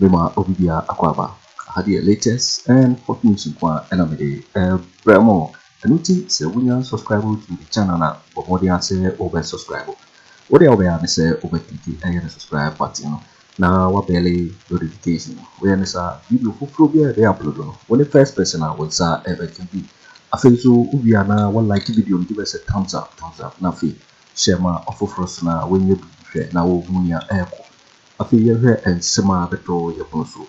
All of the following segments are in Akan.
Mema obi biara akwaaba. Aha deɛ latest and hot news nko ara na mede rebrɛ mo. Ɛno nti sɛ wonya subscribe to me channel a, bɔ mmɔden ara sɛ wobɛ subscribe. Wo deɛ a wobɛyɛ ara ne sɛ wobɛ click ɛyɛ ne subscribe button no na wa bɛlle notification no. Woyɛ ne saa a, video foforɔ biara a yɛbɛyɛ upload no, wo ne first person a wo nsa bɛka bi. Afei nso wowie a na wa like video no, give us a thumbs up, thumbs up, na afei share ma ɔfoforɔ so na wanya bi hwɛ na ɔhu nea ɛrekɔ. Afei yɛhwɛ nsɛm a bɛtɔ yɛ pono so.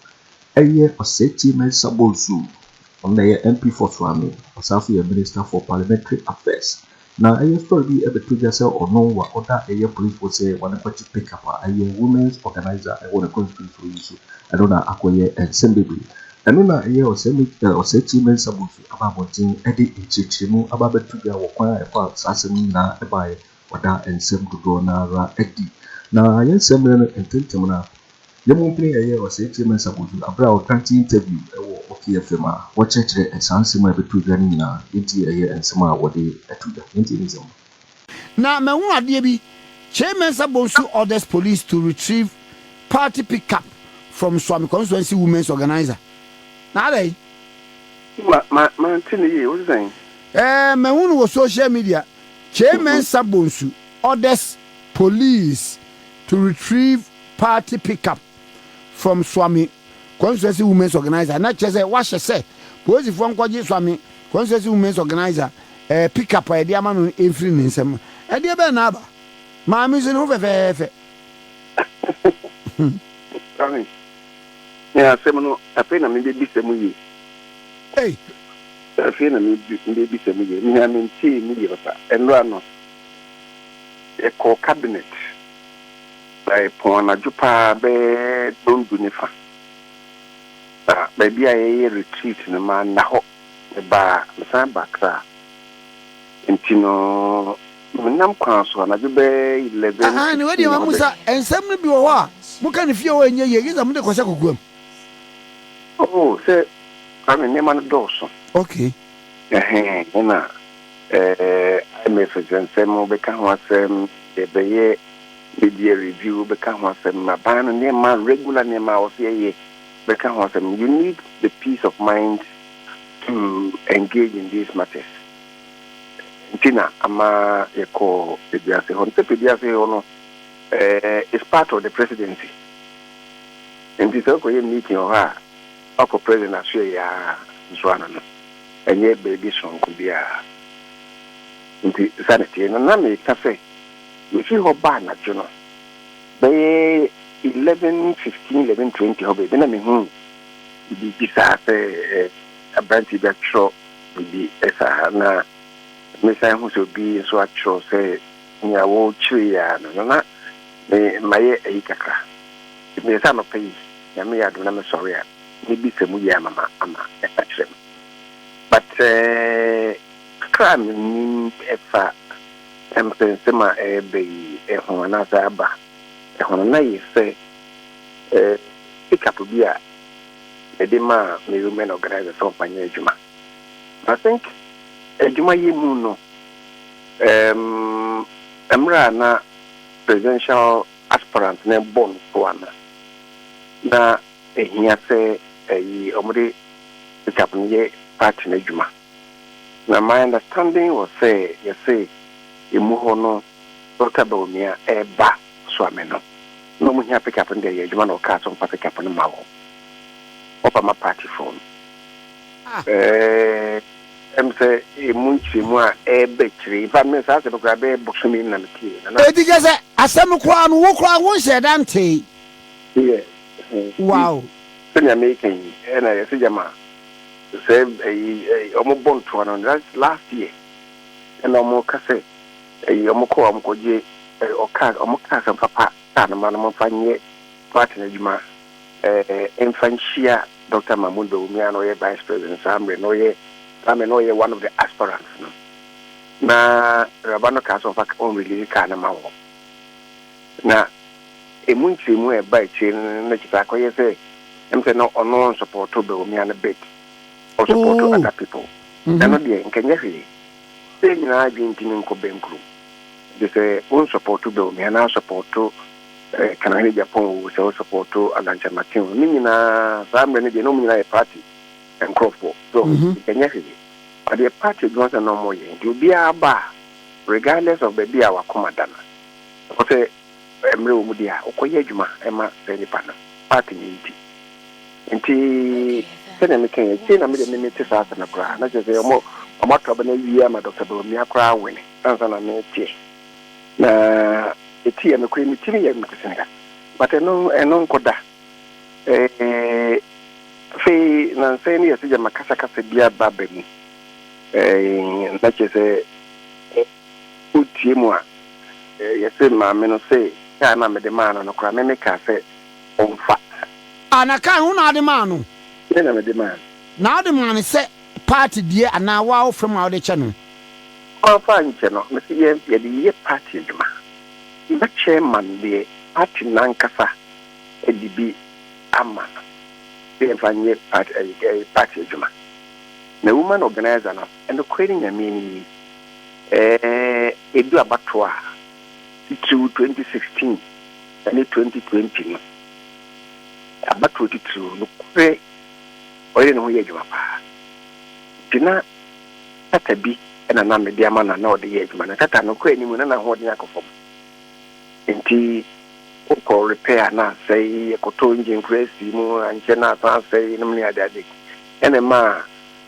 Ɛyɛ Osetie Mensah Bonsu, ɔno na ɛyɛ MP for Suame, ɔsan nso yɛ Minister for Parliamentary Affairs. Na ɛyɛ story bi ɛbɛto dwa sɛ ɔno wa ɔda ɛyɛ police fo sɛ wa ne kɔkye pick up a ɛyɛ women's organiser ɛwɔ ne constituency hɔ yi so, ɛno na akɔ yɛ nsɛm bebree. Ɛno na ɛyɛ Ɔsɛm Osetie Mensah Bonsu aba abɔnten ɛde nkyerɛkyerɛmu aba abɛto dwa wɔ kwan a ɛfa saa asɛm no nyinaa ɛbaeɛ Wɔda nsɛm dodoɔ no ara adi. Na yɛn nsɛmmerɛ no ntentem no a, yɛn mu mpene yɛyɛ Ɔsɛetie Mensah Bodu berɛ a ɔkrantii interview wɔ Oki FM a wɔkyerɛkyerɛ saa nsɛm a ɛbɛtɔ dwa no nyinaa, enti ɛyɛ nsɛm a wɔde to dwa. Yɛntie ne nsɛm no. Na mahu adeɛ bi, Kyei Mensah Bonsu orders police to retrieve party pickup from Suame constituency women's organiser. Na adɛn? Ma, ma, mante no yie. Wo se sɛn? Ɛɛ, mahu no wɔ social media. Kyei Mensah Bonsu orders police to retrieve party pickup from Suame constituency women's organiser, na kyerɛ sɛ wahyɛ sɛ polisifoɔ nkɔgye Suame constituency women's organiser eh, pickup a yɛde ama no no mfiri ne nsam. Ɛdeɛ bɛn na aba? Maame nso ne ho fɛfɛɛfɛ. Me asɛm no, afei na mebɛbisa mu yie. Ei! Afei na mebɛbisa mu yie. Mehia mentee mu yie papa. Ɛnnora ano, yɛkɔɔ cabinet, na yɛpɔn anadwo pa ara bɛyɛ nnɔndu ne fa. Na baabi a yɛyɛ retreat no, manna hɔ. Mebaa, mesan baa Accra. Enti no. Menam kwan so anadwo bɛyɛ eleven Aane, fifteen wedeɛ ma mo sa nsɛm no bi wɔ hɔ a mo ka no fie hɔ a ɛnyɛ yie, gye sɛ mo de kɔ hyɛ kokoam. Oh sɛ Kwame nneɛma no dɔɔso. Okay. Ɛhɛn ɛna ɛɛ IMF nsɛnsɛm wo bɛka ho asɛm, yɛ bɛyɛ media review wo bɛka ho asɛm, aban no nneɛma regular nneɛma a ɔsɛ yɛyɛ bɛka ho asɛm, you need the peace of mind to engage in these matters. nti na ama yɛkɔɔ Peduase hɔ. Sɛ Peduase hɔ no, it's part of the presidency. Nti sɛ wokɔyɛ meeting wɔ hɔ a, woakɔ president asoɛ yɛ ara nso ano no, ɛnyɛ baabi sononko biara. Nti saa na ɛteɛ. Na na meka sɛ, mefi hɔ ba anadwo no, bɛyɛ 11:15, 11:20 hɔ baabi na mehuu biribi saa sɛ Aberantsɛ bi akyerɛw biribi saa ha, na mesan hu sɛ obi nso akyerɛw sɛ nea wɔrekyerɛ yi ara no, na na me mayɛ ayi kakra. Nti meyɛ sɛ anɔpa yi, Nyame yɛ adom na mesɔre a, mebisa mu yie ama ma ama akyerɛ me. But kakra a mennim ɛfa mpɛnsɛm a ɛreba yi ho anaasɛ aba ho no, na ayɛ sɛ pick up bi a. mede maa me women organiser sɛ ɔmfa nyɛ adwuma. I think adwuma yɛ mu no ɛɛm mmerɛ a na presidential aspirant no rebɔ no toa no na ɛhia sɛ ɛyi wɔde sikap no yɛ party no adwuma. Na my understanding was sɛ yɛse emu hɔ no Doctor Bawumia ɛɛba soa me no na ɔmo hia pick up no deɛ yɛ adwuma na ɔkaa sɛ ɔmfa pick up no ma wɔn ɔba ma party foɔ no ɛɛ ɛm sɛ emu nkyerɛmu a ɛɛba akyire in fact me saa asɛm koraa bɛyɛ bosome ni na me tiee na na Eti kyerɛ sɛ asɛm no koraa no wo koraa wo nhyɛɛ da ntee? Yɛ ɛhɛn nti Wow. sɛnea meeka yi ɛna yɛse gyama. sɛ ɛyi ɛyi wɔn bɔ ntoa no that's last year ɛna wɔn ka sɛ ɛyi wɔn kɔ wɔn kɔ gye ɛɛ ɔkaa wɔn kaa sɛ papa kaa no ma no wɔn fa nyɛ party no adwuma ɛɛ nfa nhyia Dr. Mahmoud Bawumia a na ɔyɛ vice president saa mmerɛ na ɔyɛ saa mmerɛ na ɔyɛ one of the aspirants no na awuraba no kaa sɛ wɔn fa wɔn release kaa no ma wɔn. Na emu nkyerɛmu a ɛba akyire no na kyerɛ sɛ akɔyɛ sɛ ɛm sɛ na ɔno ɔnsɔpɔɔto Bawumia no bit, ɔsɔpɔɔto other people. Na ɛno deɛ nka nyɛ hwee. Sɛ nyinaa adwene nti no nkɔ bɛnkuro. Gye sɛ wonsɔpɔɔto Bawumia na asɔpɔɔto Kanahene Gyapɔn oo, sɛ wosɔpɔɔto Alan Kyerematen oo, ne nyinaa saa mmerɛ no deɛ na wɔn nyinaa yɛ party nkorɔfoɔ. So nka nyɛ hwee. Adeɛ party adwuma nso na na wɔyɛ. Nti obiara ba a regardless of baabi a wakoma da no, Ɛwɔ sɛ mmerɛ wɔ mu deɛ a, wokɔ yɛ adwuma ma saa nipa no, part no nti. Nti sɛdeɛ me kaeɛ, akyire na me deɛ me me te saa asɛm no koraa, na kyerɛ sɛ wɔn wɔn ato aba no awie ama Doctor Bawumia koraa wɛne ansa na me teɛ. Na ɛti yɛ nokorɛ me timi yɛ me te Senegal, but ɛno ɛno nkɔ da. Ɛɛ afei nansa yi no yɛ sɛ gyama kasa kasa bi aba aba mu, ɛɛ na kyerɛ sɛ. otie mu a, yɛse maame no see kaa no a mede maa no no koraa me me kaa sɛ ɔmfa. Ah na kaa no wo na wode maa no? Me na mede maa no. Na wode maa no sɛ party deɛ anaa woa wo fam a wode kyɛ no? Mamfa ankyɛ no, me se yɛde yɛ party adwuma. Mma chairman deɛ party no ankasa de bi ama no sɛ yɛmfa nyɛ party adwuma. Na woman organiser no, nokorɛ ne Nyame anim yi, edu abatoɔ a, titiriw 2016 ne 2020 no, abatoɔ titiriw, nokorɛ ɔyere ne ho yɛ adwuma pa ara. Nti na tata bi na na mede ama no a na ɔde yɛ adwuma. Na tata no, kɔɛ no mu na n'ahoɔden akɔ fam. Nti wokɔ repair a na asɛe, yɛkɔtɔɔ engine koraa sii mu, ankyɛ na asan asɛe nom ne adeade. Ɛna ɛmaa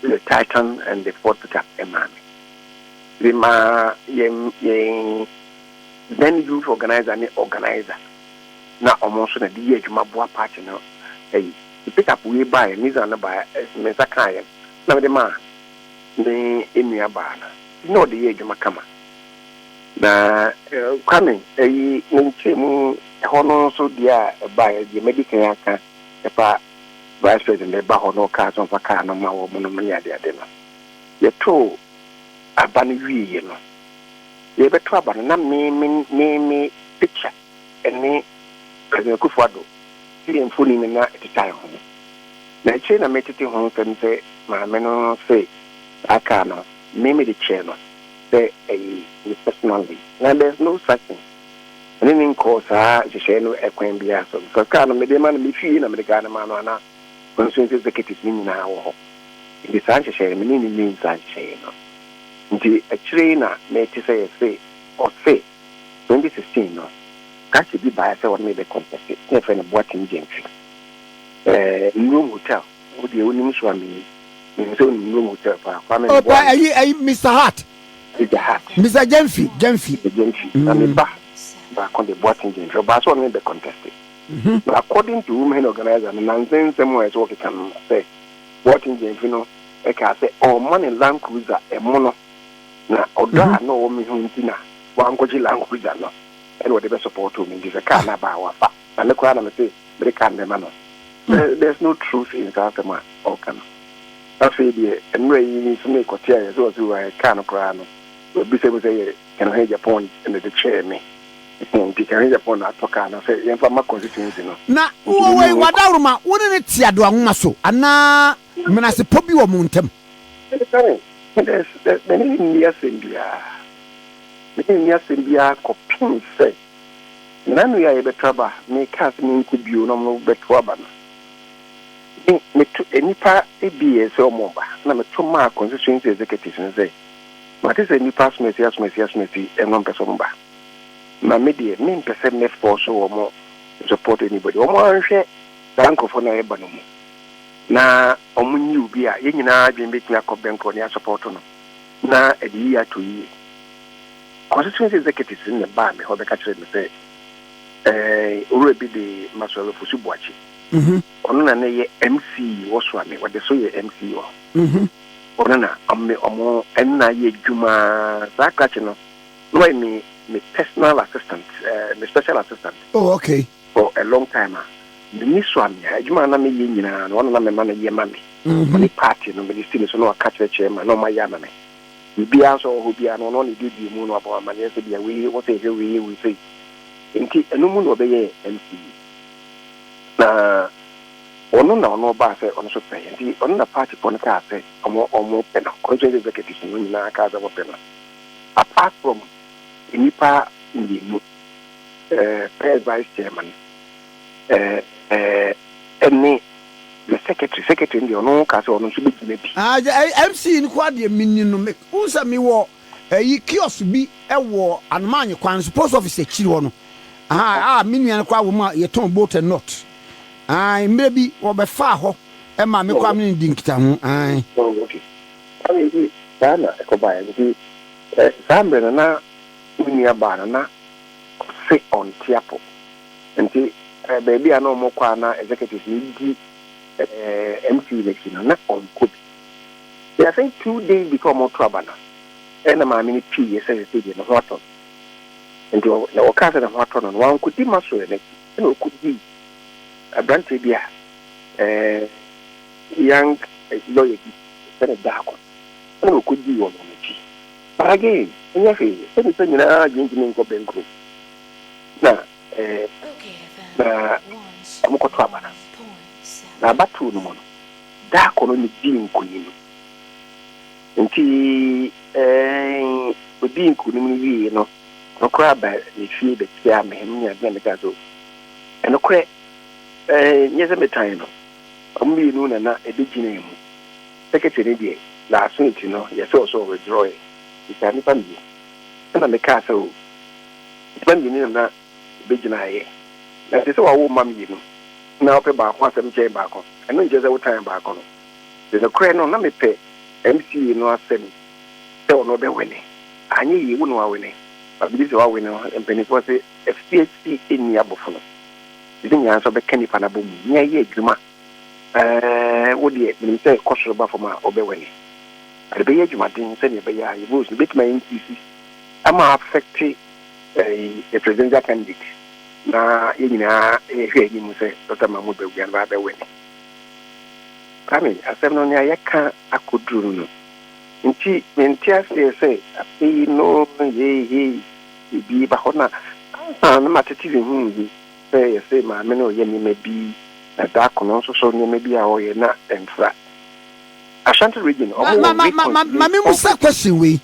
The Titan and the Ford Pickup maa me. Memaa yɛn yɛn then youth organizer ne organizer na wɔn nso na de yɛ adwuma boa party no ayi. The pickup wei baeɛ, Nissan no baeɛ, me nsa kaa yɛn na mede maa me nua baa no na ɔde yɛ adwuma kama. Na Kwame ayi ne nkyɛn mu ɛhɔ no nso deɛ a ɛbaeɛ deɛ madi kan aka ɛfa Vice President de ba hɔ na ɔkaa sɛ ɔmfa kaa no mma wɔn nom ne adeade no. Yɛtoo aba no wieeɛ no, yɛrebɛto aba no na me me me me picture ne President Akuffo Addo ne yɛn mfoni no na ɛteta yɛn ho. Na akyire na metete ho nsɛm sɛ maame no se saa kaa no me mede kyɛɛ no sɛ ɛye me personally. Na there's no such thing. me ne no nkɔɔ saa nhyehyɛe no kwan biara so, because kar no mede rema no, mifii he na mede kar no maa no a na constituency executives no nyinaa wɔ hɔ, nti saa nhyehyɛe no me ne no nyii saa nhyehyɛe no. Nti akyire yi na mete sɛ yɛse ɔse 2016 no kake bi baeɛ sɛ wɔne me bɛ contest, na yɛfrɛ no Boateng Gentry eh, Nnurom Hotel, wo deɛ wonim so a menim sɛ wonim Nnurom Hotel paa, Kwame Ɔba Mboah. ayi ayi Mister Hart. Agya Hart. Mister Gyamfi, Gyamfi. Mister Gyamfi, na ne ba baako de, Boateng Gyamfi. Ɔbaa sɛ ɔne me bɛ conteste. Na according to Women Organiser no, nansa nsɛm a ɛsɛ wɔkeka no no, sɛ Boateng Gyamfi no kaa sɛ ɔremma no Land Cruiser ɛmono, na ɔdɔ a na ɔwɔ me ho nti na wankɔgye Land Cruiser no, ɛna ɔde bɛ supporto me, nti sɛ car no aba a, wafa. Na me koraa na mese mede car no bɛma no. There's no truth in saa asɛm a ɔreka no. Afei deɛ, mmerɛ yi nso ne kɔte a yɛsɛ ɔsoro a ɛkaa no koraa no, wabisa mu sɛ, Yɛ Kɛnhwɛgyapɔn na ɛde kyɛɛ me. Enti Kɛnhwɛgyapɔn na atɔ kaa no sɛ yɛmfa mma constituency no. Na wowɔ wei, w'adaworoma, wo ne no te adowa nwoma so anaa menasepɔ bi wɔ mo ntam? Mede ne nni asɛm biara, me ne no nni asɛm biara kɔpem sɛ Menanue a yɛbɛto aba, mekaa sɛ menkɔ bio na ɔno bɛto aba no. Me meto nnipa abien sɛ wɔn mma, na meto maa constituency executives no sɛ mate sɛ nnipa asomasi asomasi asomasi na wɔmpɛ sɛ wɔn ba. Na me deɛ mempɛ sɛ mɛ force wɔn support anybody. Wɔn ara nhwɛ saa nkurɔfoɔ no a yɛba no mu na wɔn nyi obi a yɛn nyinaa adwene bɛtumi akɔ bɛnkoro ne asupporto no na ɛde yie ato yie. Constituency executives no na ɛbaa me hɔ bɛka kyerɛɛ me sɛ ɛɛ Owura bi de Masɔre Fosu Boakye. Ɔno na na ɛyɛ MC wɔ Suame, wɔde so yɛ MC wɔ hɔ. Mhm. Ɔno na ɔme ɔmo ɛno na ayɛ adwuma saa krakye no na wayɛ me me personal assistant eh, me special assistant. Oh okay. For a long time a mini Suame a adwuma a na meyɛ nyinaa no ɔno na mema no yɛ ma me. Mhm. Ɔne party no mede si ne so na waka kyerɛkyerɛ ma na ɔma yɛ ama me. Biribiara nso a ɔwɔ hɔ biara no ɔno na edi edi mu na wabɔ amaneɛ sɛ bia wei wɔ sɛ yɛhwɛ wei yɛ wei sei. Nti ɛno mu na ɔbɛyɛɛ MC. Na ɔno na ɔno ɔbaa sɛ ɔno nso pɛ, nti ɔno na party foɔ no kaa sɛ ɔmo ɔmo pɛ no, ɔno nso ne executives no nyinaa kaa sɛ ɔmo pɛ no, apart from nnipa mmienu, eh, first vice chairman, eh, eh, ɛne the secretary, secretary no deɛ ɔno kaa sɛ ɔno nso bɛgyina bi. Ah, MC nkoa deɛ menni no, me, wohu sɛ mewɔ Eyi kiosk bi wɔ Anomaanye kwan so post office akyiri hɔ no a me nua no koraa wɔ mu a yɛtɔn bolt and nut. Ae, mmerɛ bi wɔbɛfaa hɔ maa me koraa me ne no dii nkitaho. Ae. Oh, okay. Ae, nti saa na ɛkɔbaeɛ. Nti saa mmerɛ no na me nua baa no na ɔse ɔnte apɔ. Nti baabi a na wɔkɔ a na executives no di MCU no akyi no, na ɔnkɔ bi. Na afei two days before ɔmo to aba no, ɛna maame no piiyɛ sɛ sesei deɛ ne ho atɔ no. Nti ɔ, ɔkaa sɛ ne ho atɔ no no, wankɔdi Maxwell no akyi, ɛna ɔkɔdii abranteɛ bi a, eh, young lawyer bi, yɛfrɛ no Darko, ɛna ɔkɔdii wɔn wɔn akyi. But again, ɛnyɛ hwee, sɛ nnipa nyinaa adwene ntumi nkɔ bɛnkuro, na eh, na ɔmo kɔto aba no, na abatoɔ no mu no, Da koro no dii nkonim. Enti eh, odii nkonim no wiei no, ɔno koraa baa me fie bɛkyiaa me. Ɛno ne ade a mekaa sɛ, Oh, nokorɛ, eh, nyɛ sɛ metan no. Wɔn mmienu na na ɛbɛgyinaa mu. Seketee no deɛ, n'aso nti no, yɛ sɛ ɔsɛ ɔwithdrawɛɛ. Metaa nnipa mmienu. Ɛna mekaa sɛ, Oh, nnipa mmienu na na. begyinaeɛ. Na ɛte sɛ wɔawo mma mmienu na wopɛ baako asɛm kyɛn baako. Ɛno nkyerɛ sɛ wotan baako no. De nokorɛ no, na mepɛ MCA no asɛm sɛ ɔno ɔbɛwene. Anyɛ yie, wo na woawene. Ma believe sɛ woawene no. Mpanimfoɔ se afiase nni abofono. Nti ne nyinaa nso bɛka nipa no abɔ mu. Nea yɛ adwuma. Eeh, wo deɛ menim sɛ kɔ soro ba fam a wobɛwene. But bɛyɛ adwumaden sɛdeɛ ɛbɛyɛ a yɛn votes no bɛtumi a increase ama a affect Eyi yɛ presidential candidate na yɛn nyinaa rehwɛ anim sɛ Dɔkta Mahmood Bawumia no bɛ win. Kwame, asɛm no nea yɛka akɔduru no no nti mente aseɛ sɛ afei no hei hei biribi ba hɔ na ansa na matete me ho yi sɛ yɛse maame no reyɛ nneɛma bi na Darko no nso so nneɛma bi a ɔreyɛ na ɛmfra Ashanti region ɔmo wɔ weak constituency.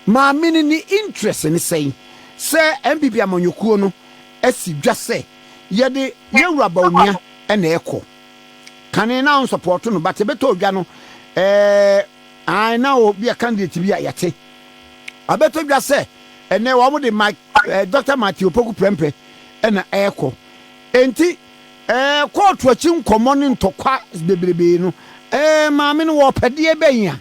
Maame no ne interest ne sɛn sɛ NPP amanyɔkuo no asi dwa sɛ yɛde Yawura Bawumia na ɛkɔ? Kane na ɔnsupporto no but ɛbɛtɔ dwa no eh ae na ɔwɔ bia candidate bi a yɛte. Ɛbɛtɔ dwa sɛ ɛnɛ wɔn de Mike, Doctor Matthew Opoku Prempeh na ɛkɔ. Enti eh kɔɔto akyi nkɔmmɔ ne ntɔkwa bebrebe no eh maame no wɔ ɔpɛdeɛ bɛn a?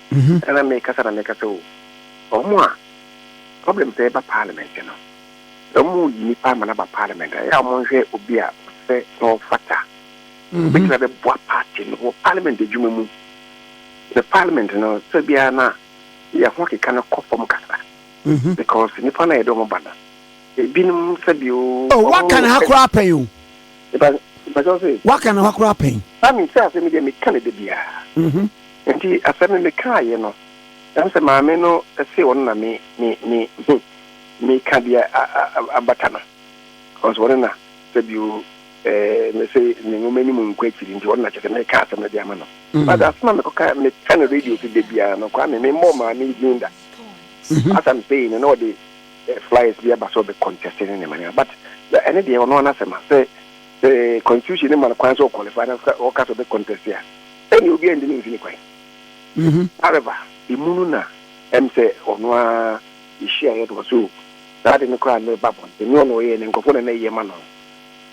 Mhm. Ɛna mekasa na meka sɛ o, wɔn a problem sɛ ɛba parliament no, sɛ wɔyi nipa ama no aba parliament a, ɛyɛ a wɔnhwɛ obi a wɔsɛ na ɔfata. Mhm. Obetumi abɛboa party no wɔ parliament adwuma mu. The parliament no, sɛ biara na yɛn ho akeka no kɔ fam kasa. Mhm. Because nipa no a yɛde wɔn ba no, ebinom sɛbi o. Oh, waka ne ha koraa pɛn o. Nipa, nipa sɛ ɔsɛ. Waka ne ha koraa pɛn. Sami sɛ asɛm deɛ meka ne da biara. Mhm. Enti asɛm no mekaaeɛ no, ɛwom sɛ maame no see ɔno na me, me, me, he, meka deɛ a, a, a, abata no, cos ɔno na, sɛbio, eh, mese ne nwoma anim nkɔ akyiri nti ɔno na kyerɛ sɛ meka asɛm no de ama no. But asɛm a mekɔka, meka no radio so da biara no, Kwame, memmɔɔ maame yi din da. As I'm saying no, na ɔde eh, flyers bi aba sɛ ɔbɛ contest ne nneɛma nneɛma. But na ɛne deɛ ɔno ara n'asɛm a, sɛ, sɛ constitution no ma no kwan sɛ ɔqualify na ɔka- ɔka sɛ ɔbɛ contest a, Sɛnea obiara nntumi mfi ne kwan. Mhm. However, emu no na ɛm sɛ ɔno ara yɛhyiaeɛ no wɔ so o. Saa ade no koraa na ɛba abɔnten. Nyɛ ɔna ɔyɛɛ no, nkurɔfoɔ na na ɛyɛ ma no.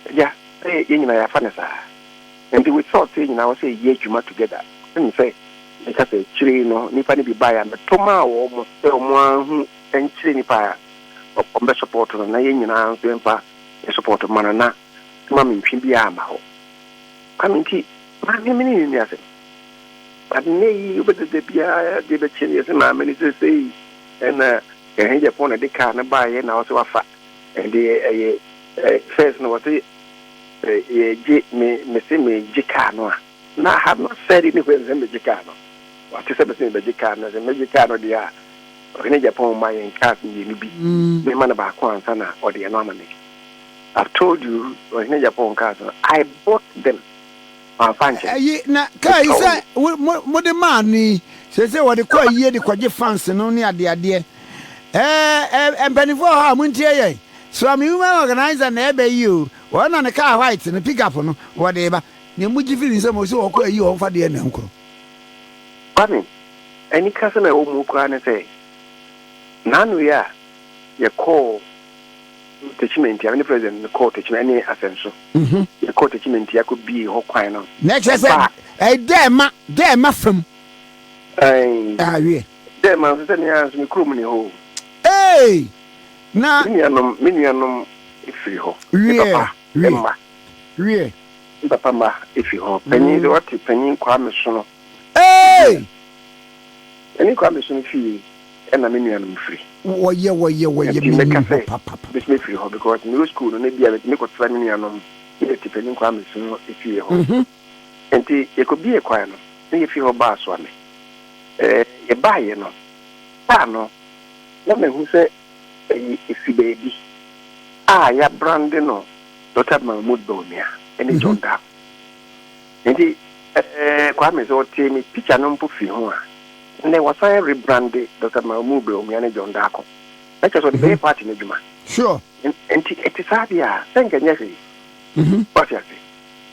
Agya, sɛ yɛn nyinaa yɛafa no saa. Nti with thoughts yi nyinaa ɛwɔ sɛ yɛyɛ adwuma together. Ɛne sɛ meka sɛ akyire yi no nnipa no bi baeɛ a meto maa wɔn sɛ wɔn ara nhu nkyerɛ nnipa a wɔbɛsupɔɔto no na yɛn nyinaa nso yɛmfa yɛn supɔɔto mma no na ma me ntwe biara mma hɔ. Kwame nti maame me ne ne nni asɛm. But nnɛ yi wobɛda da biara adeɛ bɛkye no yɛsɛ maame no seesei ɛna ɛhe gyapɔn na ɛde kaa no baeɛ na ɔsɛ wafa ɛde ɛyɛ first no wɔsɛ yɛgye me mese megye kaa no a na I have not said anywhere sɛ megye kaa no wate sɛ mese mebɛgye kaa no sɛ megye kaa no deɛ a ɔhene gyapɔn ma yɛn cars mmienu bi mema no baako ansa na ɔde ɛno ama me I've told you, Ɔhene Japan kaa sɛ, I bought them. Mamfa nkyɛ. Ayi, na kaa yi sɛ mode maa no yi, seesei wɔde kɔ ayie de kɔgye fans no ne adeadeɛ. Ɛɛ, mpanimfoɔ wɔ hɔ a, montie yɛn. Swami Women Organizer na ɛreba yi o. Wɔn na ne kaa white no, pick up no, wɔde reba. Nea mogye firi ne nsam, ɔse wɔkɔ ayi wɔn fa deɛ na nkoro. Kwame, anikasɛm a ɛwɔ mu koraa ne sɛ, Nano yi a yɛkɔɔ Tekyima nti, ame ne president no kɔɔ Tekyima ɛne Asɛnso. Yɛkɔɔ Tekyima nti akɔ bie hɔ kwan no. Na ɛkyerɛ sɛ ɛyɛ Dɛɛma, Dɛɛma fam. Ayi. Awie. Dɛɛma nso sɛ nea nso me kurom ni hɔ o. Ee! Na. Me nuanom, me nuanom efiri hɔ. Wie. Me papa mma. Wie. Me papa mma efiri hɔ. Panyin de wate panyin Kwame Sono. Ee! Panyin Kwame Sono fie. ɛna me nuanom firi. Wɔyɛ wɔyɛ wɔyɛ me nim hɔ papapapa. Bɛtumi afiri hɔ because mewɔ school no na ebia mɛtumi kɔtra me nuanom ne yɛ tipani nkɔ amesu no efie hɔ nti yɛkɔ bie kwan no na yɛfiri hɔ baa soame ɛɛ yɛbaa yɛ no baa no na mahu sɛ ɛyɛ efi baabi a yɛabrande no Dɔkta Mahmood Bawumia ɛne John Darko. Enti eh Kwame sɛ ɔtee me picture no mpo firi ho a, nnɛ wasan rebrande Doctor Mahmood Bawumia ne John Darko. Na kyerɛ sɛ ɔde bɛyɛ party no adwuma. Sure. Enti ɛte saa deɛ a, sɛ nka ɛnyɛ hwee. Wate ase?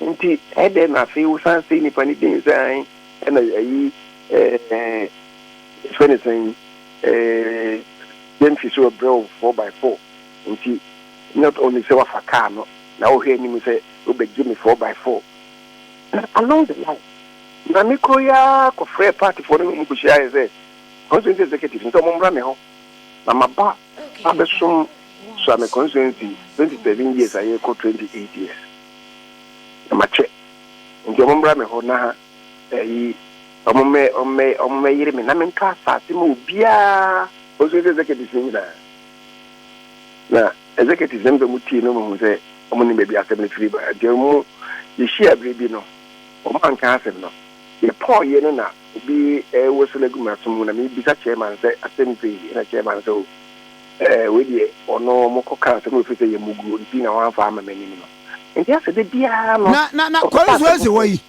Enti ɛdɛn na afei wosan sei nipa no din sɛ ae ɛna ayi eh yɛfrɛ no sɛn eh James Sowɔ Brɛw four by four. Enti. Not only sɛ wafa car no na ɔhwɛ anim sɛ ɔbɛgye me four by four na along the line na me kuro yi ara kɔfrɛɛ party foɔ no ne wɔn kɔhyiaeɛ sɛ constituency executives no sɛ wɔn mmra me hɔ na maba abɛsom soa me constituency twenty seven years a yɛrekɔ twenty eight years na makyɛ nti wɔn mmra me hɔ na ɛyi wɔn mmɛ wɔn mmɛ wɔn mmɛyere me na mentɔ asaase ma obiara constituency executives no nyinaa. Na executives no mu tie no hu sɛ wɔn nim baabi asɛm no firi ba. Nti wɔn yɛhyia bere bi no, wɔn anka asɛm no. Yɛ pɔɔ yɛ no na obi rewoso no agu m'aso mu na me bisa chairman sɛ asɛm sei ɛna chairman sɛ o ɛɛ wei deɛ ɔno wɔn kɔ ka asɛm no firi sɛ yɛ mu guo nti na wɔn anfa ama m'anim no. Nti asɛ de biara no. Na na na kɔre so ɛsɛ hɔ yi.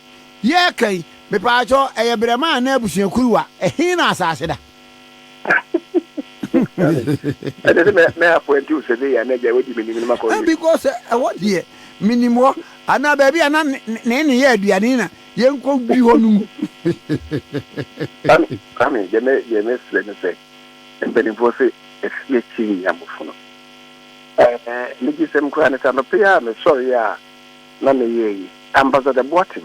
Yɛ ɛka yi mepaakyɛw ɛyɛ brɛma anaa abusua kuruwa ɛhe na asaase da. ɛnɛ sɛ mɛapɔnti wo sɛ deɛ na agya wadi menim no makɔ eh, because eh, ɛhɔ deɛ menim hɔ anaa baabi a na ne ne yɛ aduane na yɛnkɔ bi hɔ no mu kame deɛ mɛserɛ no sɛ mpanimfoɔ sɛ afie akyi nyi amofo no megye sɛm koraa ne sɛ anɔpɛ a mesɔre a na meyɛ yi ambassador boatem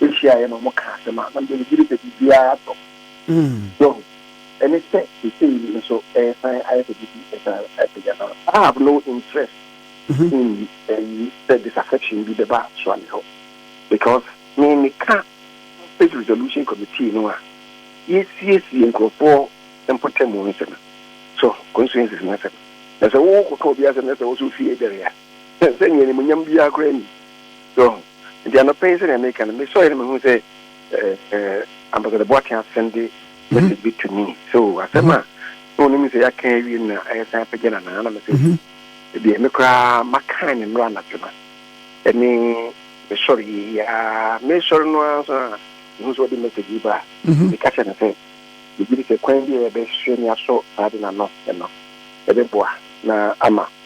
behyiaeɛ na wɔkaa asɛm a na mede megyere sɛ biribiara atɔ. Wahu? Ɛne sɛ seesei yi nso ɛresan ayɛ sɛ biribi resan apagya no. I have no interest in ayi sɛ disaffection bi bɛba soa me hɔ because me meka Conflict Resolution Committee no a yɛsiesie nkurɔfoɔ mpɔtamu nsɛm, so constituencies no nsɛm. Na sɛ wo kɔka obi asɛm na sɛ wo nso wo fie dɛre a, Sɛ, sɛ nea animuonyam biara koraa nni. So ɔho? Enti anɔpa yi, sɛnea meka no, mesɔree na mehuu sɛ, eh, eh, Ambassador Boateng asen de message bi to me. So, asɛm a na onim sɛ yɛaka awie no na ɛresan apagya no anaa? Ɛna mese, Ɛdeɛ, me koraa makan ne mmra anadwo no. Ɛne mesɔree yi ara, meresɔre no ara nso na mehu sɛ ɔde message yi baa. Meka kyerɛɛ no sɛ, megye di sɛ kwan bi a yɛbɛhwɛ na yɛasɔ saa ade no ano no, ɛbɛboa na ama.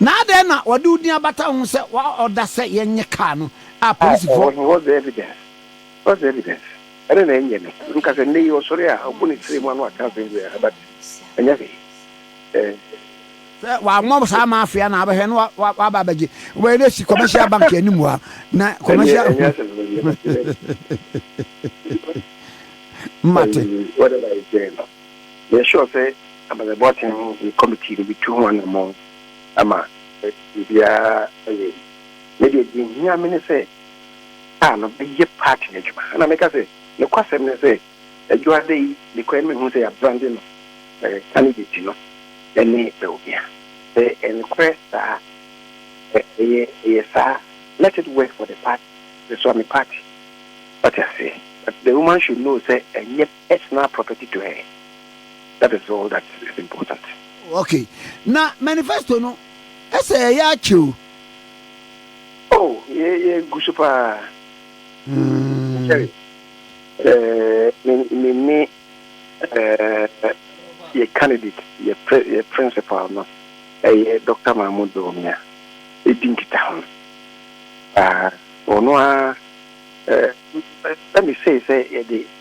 Na adɛn na wɔde wo din abata ho sɛ woaɔda sɛ yɛnyɛ car no a polisifoɔ. Ah, what's the evidence? What's the evidence? Ɛno na ɛnyɛ me nka sɛ nnɛ yi ɔsɔre a ɔbɔ ne tiri mu ano aka asɛm biara but ɛnyɛ hwee. Eh. Sɛ wammɔ saa ma afei a na abɛhwɛ na waba abɛgye. Wobɛyɛ dɛ si commercial bank anim hɔ a na commercial. Ɛnyɛ asɛm no yɛ. Mate. Whatever is there. Yɛ sure sɛ amanebɔ tee ho yɛ committee no bi tu ho anamɔn ama biribiara ayɛ yi. Me deɛ deɛ ɛhia me ne sɛ car no bɛyɛ part no adwuma. Ɛna meka sɛ nokwasɛm ne sɛ Adwoada yi mekɔɛ no mehuu sɛ yɛabrande no candidate no ne Bawumia. Sɛ ɛyɛ nokorɛ saa a, ɛyɛ ɛyɛ saa let it work for the party, ɛsoa me party. Woate aseɛ? But the woman should know sɛ ɛnyɛ. It's not property to her that is all that is important. Ok na manifesto no ɛsɛ ɛyɛ akyɛ o. Oh yɛ yɛ gu so paa. Hmm. Sorry ɛɛ me ne ɛɛ yɛ candidate yɛ pre yɛ principal no ɛyɛ Dr. Mahmoud Bawumia edi nkita ho paa ɔno a ɛɛ ɛmi sɛ sɛ yɛde.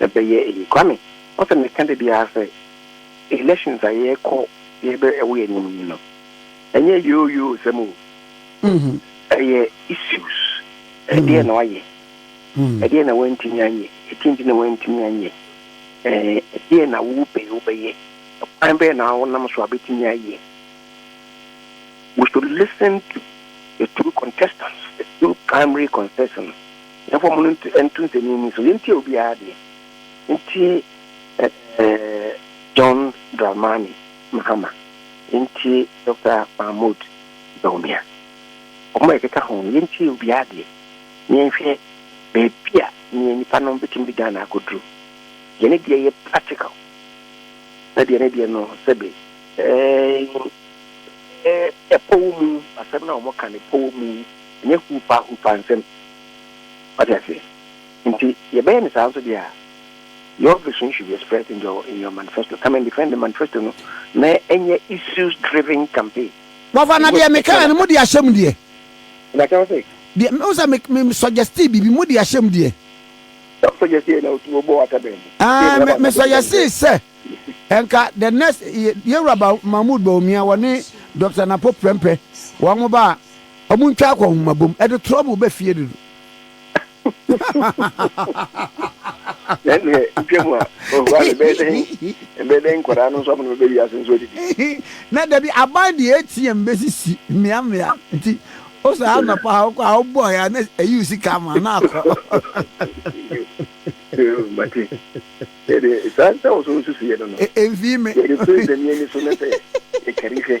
Ɛbɛyɛ eyi Kwame, wo sɛ meka da biara sɛ elections a yɛkɔ yɛbɛ ɛwɔ yɛn anim yi no ɛnyɛ yoo yoo sɛm o ɛyɛ issues ɛdeɛ na wayɛ ɛdeɛ na wantumi anyɛ ɛdeɛ nti na wantumi anyɛ ɛdeɛ na wo pɛ wo bɛyɛ kwan bɛyɛ na wonam so a bɛtumi ayɛ we should listen to the two contestants the two primary contestants Yɛmfa ɔmo no nto nto nsɛnnennen so. Yɛntie obiara deɛ. Yɛntie ɛɛ John Dramani Mahama. Yɛntie Doctor Mahmoud Bawumia. Ɔmo a yɛkeka ho no, yɛntie obiara deɛ na yɛnhwɛ baabi a neɛ nipa no betumi de Ghana akɔduru. Deɛ ne deɛ yɛ practical na deɛ ne deɛ no sɛbe ɛɛ ɛɛ ɛpɔ wo mu. Asɛm no a ɔmo ka no pɔ wo mu. Ɛnyɛ hupa hupa nsɛm. Wate aseɛ? Nti yɛbɛyɛ no saa nso deɛ a, your vision should be expressed in your in your manifesto. Come and defend the manifesto no na ɛnyɛ issues driven campaign. Wɔfa na deɛ mekaeɛ no mode ahyɛ mu deɛ. Na kyɛw sɛ. Deɛ me wo sɛ me me suggestee biribi mode ahyɛ mu deɛ. Sɛ wo suggestee na otu obɔ wata bɛn mu. Aah me me suggestee sɛ nka the next Yewura Mahmood Bawumia wɔne Doctor Napo Prempeh wɔn mo ba a. Ɔmo ntwa akɔ nhoma bom ɛde trɔbl bɛ fie dodo. Ɛnneɛ ntwa mu a ohu a ɛbɛyɛ dɛn ɛbɛyɛ dɛn nkwadaa no nso ama no bɛbɛ wiase nso adidi. Na dabi aban deɛ ATM bɛsisi mmea mmea nti wo saa anɔpa a wokɔ a wobɔɔɛ a na ayi wo sika ama na akɔ. Mate ɛdeɛ saa sɛ wo so nsusuiɛ no no. Ɛmfii me. Yɛde president yɛ ani so na sɛ yɛkari hwɛ.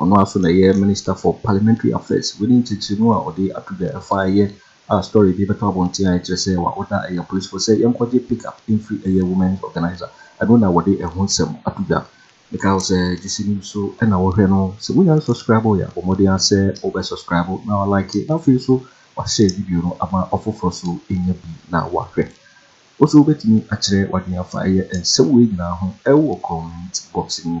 Ɔno ara nso na ɛyɛ Minister for Parliamentary Affairs. Wei ne nkyerɛkyerɛmu a ɔde ato dwa ɛfa ɛyɛ a story bi bɛtɔ abɔnten a ɛkyerɛ sɛ wa order ɛyɛ apolisfoɔ sɛ yɛnkɔgye pick up mfiri ɛyɛ women's organiser. Ɛno na wɔde ɛho nsɛm ato dwa. Mekae wo sɛ gyesi nim so na wohwɛ no. Sɛ wonya nsɔskraibo yɛ a bɔ mmɔden ara sɛ wo bɛ sɔskraibo na wa like na afei nso wa share video no ama ɔfoforɔ nso anya bi na wa hwɛ. Wo nso wo bɛtumi akyerɛ wadwene afa ɛyɛ nsɛm wei nyinaa ho ɛwɔ comment box no mu.